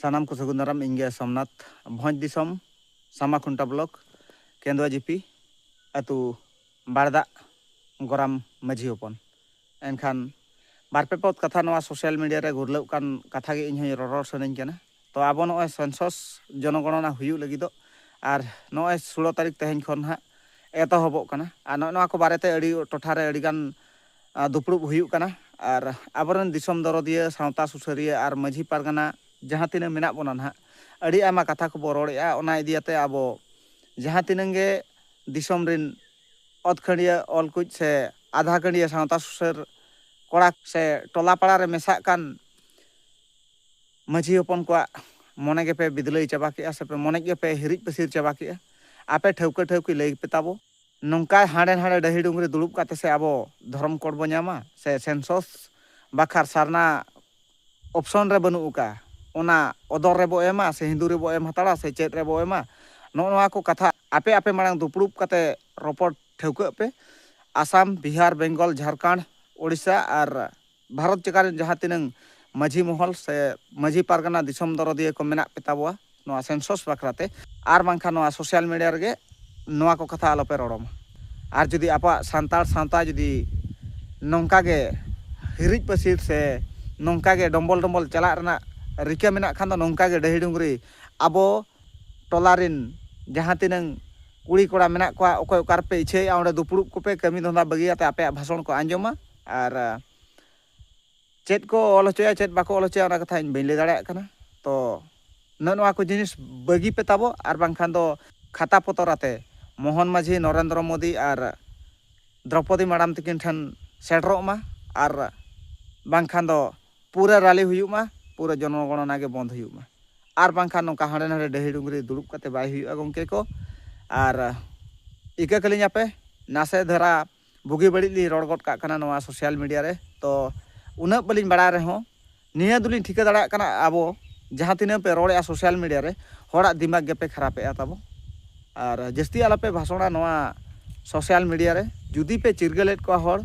ᱥᱟᱱᱟᱢ ᱠᱚ ᱥᱟᱹᱜᱩᱱ ᱫᱟᱨᱟᱢ ᱤᱧ ᱜᱮ ᱥᱚᱢᱱᱟᱛᱷ ᱵᱷᱚᱸᱡᱽ ᱫᱤᱥᱚᱢ ᱥᱟᱢᱟ ᱠᱷᱩᱱᱴᱟ ᱵᱞᱚᱠ ᱠᱮᱸᱫᱽᱣᱟ ᱡᱤᱯᱤ ᱟᱹᱛᱩ ᱵᱟᱲᱫᱟᱜ ᱜᱚᱨᱟᱢ ᱢᱟᱹᱡᱷᱤ ᱦᱚᱯᱚᱱ ᱮᱱᱠᱷᱟᱱ ᱵᱟᱨ ᱯᱮ ᱯᱚᱫ ᱠᱟᱛᱷᱟ ᱱᱚᱣᱟ ᱥᱳᱥᱟᱞ ᱢᱤᱰᱤᱭᱟ ᱨᱮ ᱜᱩᱨᱞᱟᱹᱜ ᱠᱟᱱ ᱠᱟᱛᱷᱟ ᱜᱮ ᱤᱧ ᱦᱚᱸ ᱨᱚᱨᱚᱲ ᱥᱟᱱᱟᱧ ᱠᱟᱱᱟ ᱛᱚ ᱟᱵᱚ ᱱᱚᱜᱼᱚᱭ ᱥᱮᱱᱥᱚᱥ ᱡᱚᱱᱚᱜᱚᱬᱱᱟ ᱦᱩᱭᱩᱜ ᱞᱟᱹᱜᱤᱫᱚᱜ ᱟᱨ ᱱᱚᱜᱼᱚᱭ ᱥᱳᱞᱳ ᱛᱟᱹᱨᱤᱠᱷ ᱛᱮᱦᱮᱧ ᱠᱷᱚᱱ ᱦᱟᱸᱜ ᱮᱛᱚᱦᱚᱵᱚᱜ ᱠᱟᱱᱟ ᱟᱨ ᱱᱚᱜᱼᱚᱭ ᱱᱚᱣᱟ ᱠᱚ ᱵᱟᱨᱮᱛᱮ ᱟᱹᱰᱤ ᱴᱚᱴᱷᱟ ᱨᱮ ᱟᱹᱰᱤ ᱜᱟᱱ ᱫᱩᱯᱲᱩᱵ ᱦᱩᱭᱩᱜ ᱠᱟᱱᱟ ᱟᱨ ᱟᱵᱚ ᱨᱮᱱ ᱫᱤᱥᱚᱢ ᱫᱚᱨᱚᱫᱤᱭᱟᱹ ᱥᱟᱶᱛᱟ ᱥᱩᱥᱟᱹᱨᱤᱭᱟᱹ ᱟᱨ ᱢᱟᱺᱡᱷᱤ ᱯᱟᱨᱜᱟᱱᱟ ᱡᱟᱦᱟᱸ ᱛᱤᱱᱟᱹᱜ ᱢᱮᱱᱟᱜ ᱵᱚᱱᱟ ᱱᱟᱦᱟᱜ ᱟᱹᱰᱤ ᱟᱭᱢᱟ ᱠᱟᱛᱷᱟ ᱠᱚᱵᱚ ᱨᱚᱲᱮᱜᱼᱟ ᱚᱱᱟ ᱤᱫᱤ ᱟᱛᱮ ᱟᱵᱚ ᱡᱟᱦᱟᱸ ᱛᱤᱱᱟᱹᱜ ᱜᱮ ᱫᱤᱥᱚᱢ ᱨᱮᱱ ᱚᱛ ᱠᱷᱟᱹᱰᱭᱟᱹ ᱚᱞ ᱠᱩᱡ ᱥᱮ ᱟᱫᱷᱟ ᱠᱷᱟᱹᱰᱭᱟᱹ ᱥᱟᱶᱛᱟ ᱥᱩᱥᱟᱹᱨ ᱠᱚᱲᱟ ᱥᱮ ᱴᱚᱞᱟ ᱯᱟᱲᱟ ᱨᱮ ᱢᱮᱥᱟᱜ ᱠᱟᱱ ᱢᱟᱺᱡᱷᱤ ᱦᱚᱯᱚᱱ ᱠᱚᱣᱟᱜ ᱢᱚᱱᱮ ᱜᱮᱯᱮ ᱵᱤᱫᱽᱞᱟᱹᱭ ᱪᱟᱵᱟ ᱠᱮᱜᱼᱟ ᱥᱮ ᱢᱚᱱᱮ ᱜᱮᱯᱮ ᱦᱤᱨᱤᱡ ᱯᱟᱹᱥᱤᱨ ᱪᱟᱵᱟ ᱠᱮᱜᱼᱟ ᱟᱯᱮ ᱴᱷᱟᱹᱣᱠᱟᱹ ᱴᱷᱟᱹᱣᱠᱤ ᱞᱟᱹᱭ ᱯᱮ ᱛᱟᱵᱚ ᱱᱚᱝᱠᱟ ᱦᱟᱸᱰᱮ ᱱᱟᱸᱰᱮ ᱰᱟᱹᱦᱤ ᱰᱩᱝᱨᱤ ᱫᱩᱲᱩᱵ ᱠᱟᱛᱮ ᱥᱮ ᱟᱵᱚ ᱫᱷᱚᱨᱚᱢ ᱠᱳᱰ ᱵᱚ ᱧᱟᱢᱟ ᱥᱮ ᱥᱮᱱᱥᱚᱥ ᱵᱟᱠᱷᱟᱨ ᱥᱟᱨᱱᱟ ᱚᱯᱷᱥᱚᱱ ᱨᱮ ᱵᱟᱹᱱᱩᱜ ᱟᱠᱟᱜᱼᱟ ᱚᱱᱟ ᱚᱫᱚᱨ ᱨᱮᱵᱚ ᱮᱢᱟ ᱥᱮ ᱦᱤᱱᱫᱩ ᱨᱮᱵᱚ ᱮᱢ ᱦᱟᱛᱟᱲᱟ ᱥᱮ ᱪᱮᱫ ᱨᱮᱵᱚ ᱮᱢᱟ ᱱᱚᱜᱼᱚ ᱱᱚᱣᱟ ᱠᱚ ᱠᱟᱛᱷᱟ ᱟᱯᱮ ᱟᱯᱮ ᱢᱟᱲᱟᱝ ᱫᱩᱯᱲᱩᱵ ᱠᱟᱛᱮ ᱨᱚᱯᱚᱲ ᱴᱷᱟᱹᱣᱠᱟᱹᱜ ᱯᱮ ᱟᱥᱟᱢ ᱵᱤᱦᱟᱨ ᱵᱮᱝᱜᱚᱞ ᱡᱷᱟᱲᱠᱷᱚᱸᱰ ᱳᱰᱤᱥᱟ ᱟᱨ ᱵᱷᱟᱨᱚᱛ ᱡᱟᱠᱟᱛ ᱨᱮᱱ ᱡᱟᱦᱟᱸ ᱛᱤᱱᱟᱹᱝ ᱢᱟᱹᱡᱷᱤ ᱢᱚᱦᱚᱞ ᱥᱮ ᱢᱟᱹᱡᱷᱤ ᱯᱟᱨᱜᱟᱱᱟ ᱫᱤᱥᱚᱢ ᱫᱚᱨᱚᱫᱤᱭᱟᱹ ᱠᱚ ᱢᱮᱱᱟᱜ ᱯᱮ ᱛᱟᱵᱚᱣᱟ ᱱᱚᱣᱟ ᱥᱮᱱᱥᱚᱥ ᱵᱟᱠᱷᱨᱟ ᱛᱮ ᱟᱨ ᱵᱟᱝᱠᱷᱟᱱ ᱱᱚᱣᱟ ᱥᱳᱥᱟᱞ ᱢᱤᱰᱤᱭᱟ ᱨᱮᱜᱮ ᱱᱚᱣᱟ ᱠᱚ ᱠᱟᱛᱷᱟ ᱟᱞᱚᱯᱮ ᱨᱚᱲᱚ ᱢᱟ ᱟᱨ ᱡᱩᱫᱤ ᱟᱵᱚᱣᱟᱜ ᱥᱟᱱᱛᱟᱲ ᱥᱟᱶᱛᱟ ᱡᱩᱫᱤ ᱱᱚᱝᱠᱟ ᱜᱮ ᱦᱤᱨᱤᱡ ᱯᱟᱹᱥᱤᱨ ᱥᱮ ᱱᱚᱝᱠᱟ ᱜᱮ ᱰᱚᱢᱵᱚᱞ ᱰᱚᱢᱵᱚᱞ ᱪᱟᱞᱟᱜ ᱨᱮᱱᱟᱜ ᱨᱤᱠᱟᱹ ᱢᱮᱱᱟᱜ ᱠᱷᱟᱱ ᱫᱚ ᱱᱚᱝᱠᱟ ᱜᱮ ᱰᱟᱹᱦᱤ ᱰᱩᱝᱨᱤ ᱟᱵᱚ ᱴᱚᱞᱟ ᱨᱮᱱ ᱡᱟᱦᱟᱸ ᱛᱤᱱᱟᱹᱝ ᱠᱩᱲᱤ ᱠᱚᱲᱟ ᱢᱮᱱᱟᱜ ᱠᱚᱣᱟ ᱚᱠᱚᱭ ᱚᱠᱟ ᱨᱮᱯᱮ ᱤᱪᱪᱷᱟᱹᱭᱮᱫᱼᱟ ᱚᱸᱰᱮ ᱫᱩᱯᱲᱩᱵ ᱠᱚᱯᱮ ᱠᱟᱹᱢᱤ ᱫᱷᱚᱸᱫᱟ ᱵᱟᱹᱜᱤ ᱠᱟᱛᱮᱫ ᱟᱯᱮᱭᱟᱜ ᱵᱷᱟᱥᱚᱱ ᱠᱚ ᱟᱸᱡᱚᱢᱟ ᱟᱨ ᱪᱮᱫ ᱠᱚ ᱚᱞ ᱦᱚᱪᱚᱭᱟ ᱪᱮᱫ ᱵᱟᱠᱚ ᱚᱞ ᱦᱚᱪᱚᱭᱟ ᱚᱱᱟ ᱠᱟᱛᱷᱟ ᱤᱧ ᱵᱟᱹᱧ ᱞᱟᱹᱭ ᱫᱟᱲᱮᱭᱟᱜ ᱠᱟᱱᱟ ᱛᱚ ᱱᱚᱜᱼᱚ ᱱᱚᱣᱟ ᱠᱚ ᱡᱤᱱᱤᱥ ᱵᱟᱹᱜᱤ ᱯᱮ ᱛᱟᱵᱚ ᱟᱨ ᱵᱟᱝᱠᱷᱟᱱ ᱫᱚ ᱠᱷᱟᱛᱟ ᱯᱚᱛᱚᱨ ᱟᱛᱮ ᱢᱳᱦᱚᱱ ᱢᱟᱹᱡᱷᱤ ᱱᱚᱨᱮᱱᱫᱨᱚ ᱢᱳᱫᱤ ᱟᱨ ᱫᱨᱚᱯᱚᱫᱤ ᱢᱟᱰᱟᱢ ᱛᱤᱠᱤᱱ ᱴᱷᱮᱱ ᱥᱮᱴᱮᱨᱚᱜ ᱢᱟ ᱟᱨ ᱵᱟᱝᱠᱷᱟᱱ ᱫᱚ ᱯᱩᱨᱟᱹ ᱨᱟᱞᱤ ᱦᱩᱭᱩᱜ ᱢᱟ ᱯᱩᱨᱟᱹ ᱡᱚᱱᱚᱜᱚᱬᱚᱱᱟ ᱜᱮ ᱵᱚᱱᱫ ᱦᱩᱭᱩᱜ ᱢᱟ ᱟᱨ ᱵᱟᱝᱠᱷᱟᱱ ᱱᱚᱝᱠᱟ ᱦᱟᱸᱰᱮ ᱱᱟᱰᱮ ᱰᱟᱹᱦᱤ ᱰᱩᱝᱨᱤ ᱫᱩᱲᱩᱵ ᱠᱟᱛᱮ ᱵᱟᱭ ᱦᱩᱭᱩᱜᱼᱟ ᱜᱚᱢᱠᱮ ᱠᱚ ᱟᱨ ᱤᱠᱟᱹ ᱠᱟᱹᱞᱤᱧᱟᱯᱮ ᱱᱟᱥᱮ ᱫᱷᱟᱨᱟ ᱵᱩᱜᱤ ᱵᱟᱹᱲᱤᱡ ᱞᱤᱧ ᱨᱚᱲ ᱜᱚᱫ ᱠᱟᱜ ᱠᱟᱱᱟ ᱱᱚᱣᱟ ᱥᱳᱥᱟᱞ ᱢᱤᱰᱤᱭᱟ ᱨᱮ ᱛᱚ ᱩᱱᱟᱹᱜ ᱵᱟᱹᱞᱤᱧ ᱵᱟᱲᱟᱭ ᱨᱮᱦᱚᱸ ᱱᱤᱭᱟᱹ ᱫᱚᱞᱤᱧ ᱴᱷᱤᱠᱟᱹ ᱫᱟᱲᱮᱭᱟᱜ ᱠᱟᱱᱟ ᱟᱵᱚ ᱡᱟᱦᱟᱸ ᱛᱤᱱᱟᱹᱜ ᱯᱮ ᱨᱚᱲᱮᱜᱼᱟ ᱥᱳᱥᱟᱞ ᱢᱤᱰᱤᱭᱟ ᱨᱮ ᱦᱚᱲᱟᱜ ᱫᱤᱢᱟᱜᱽ ᱜᱮᱯᱮ ᱠᱷᱟᱨᱟᱯᱮᱜᱼᱟ ᱛᱟᱵᱚ ᱟᱨ ᱡᱟᱹᱥᱛᱤ ᱟᱞᱚᱯᱮ ᱵᱷᱟᱥᱚᱬᱟ ᱱᱚᱣᱟ ᱥᱳᱥᱟᱞ ᱢᱤᱰᱤᱭᱟ ᱨᱮ ᱡᱩᱫᱤ ᱯᱮ ᱪᱤᱨᱜᱟᱹᱞᱮᱫ ᱠᱚᱣᱟ ᱦᱚᱲ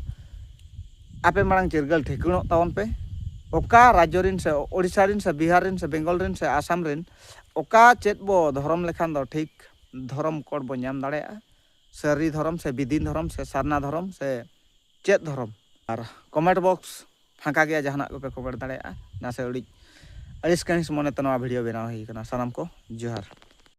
ᱟᱯᱮ ᱢᱟᱲᱟᱝ ᱪᱤᱨᱜᱟᱹᱞ ᱴᱷᱤᱠᱟᱹᱬᱚᱜ ᱛᱟᱵᱚᱱ ᱯᱮ ᱚᱠᱟ ᱨᱟᱡᱽᱡᱚ ᱨᱤᱱ ᱥᱮ ᱳᱰᱤᱥᱟ ᱨᱤᱱ ᱥᱮ ᱵᱤᱦᱟᱨ ᱨᱤᱱ ᱥᱮ ᱵᱮᱝᱜᱚᱞ ᱨᱤᱱ ᱥᱮ ᱟᱥᱟᱢ ᱨᱤᱱ ᱚᱠᱟ ᱪᱮᱫ ᱵᱚ ᱫᱷᱚᱨᱚᱢ ᱞᱮᱠᱷᱟᱱ ᱫᱚ ᱴᱷᱤᱠ ᱫᱷᱚᱨᱚᱢ ᱠᱳᱰ ᱵᱚ ᱧᱟᱢ ᱫᱟᱲᱮᱭᱟᱜᱼᱟ ᱥᱟᱹᱨᱤ ᱫᱷᱚᱨᱚᱢ ᱥᱮ ᱵᱤᱫᱤᱱ ᱫᱷᱚᱨᱚᱢ ᱥᱮ ᱥᱟᱨᱱᱟ ᱫᱷᱚᱨᱚᱢ ᱥᱮ ᱪᱮᱫ ᱫᱷᱚᱨᱚᱢ ᱟᱨ ᱠᱚᱢᱮᱱᱴ ᱵᱚᱠᱥ ᱯᱷᱟᱸᱠᱟ ᱜᱮᱭᱟ ᱡᱟᱦᱟᱱᱟᱜ ᱠᱚᱯᱮ ᱠᱚᱢᱮᱱᱴ ᱫᱟᱲᱮᱭᱟᱜᱼᱟ ᱱᱟᱥᱮ ᱟᱹᱰᱤ ᱟᱹᱲᱤᱥ ᱠᱟᱹᱦᱤᱥ ᱢᱚᱱᱮᱛᱮ ᱱᱚᱣᱟ ᱵᱷᱤᱰᱤᱭᱳ ᱵᱮᱱᱟᱣ ᱦᱩᱭ ᱟᱠᱟᱱᱟ ᱥᱟᱱᱟᱢ ᱠᱚ ᱡᱚᱦᱟᱨ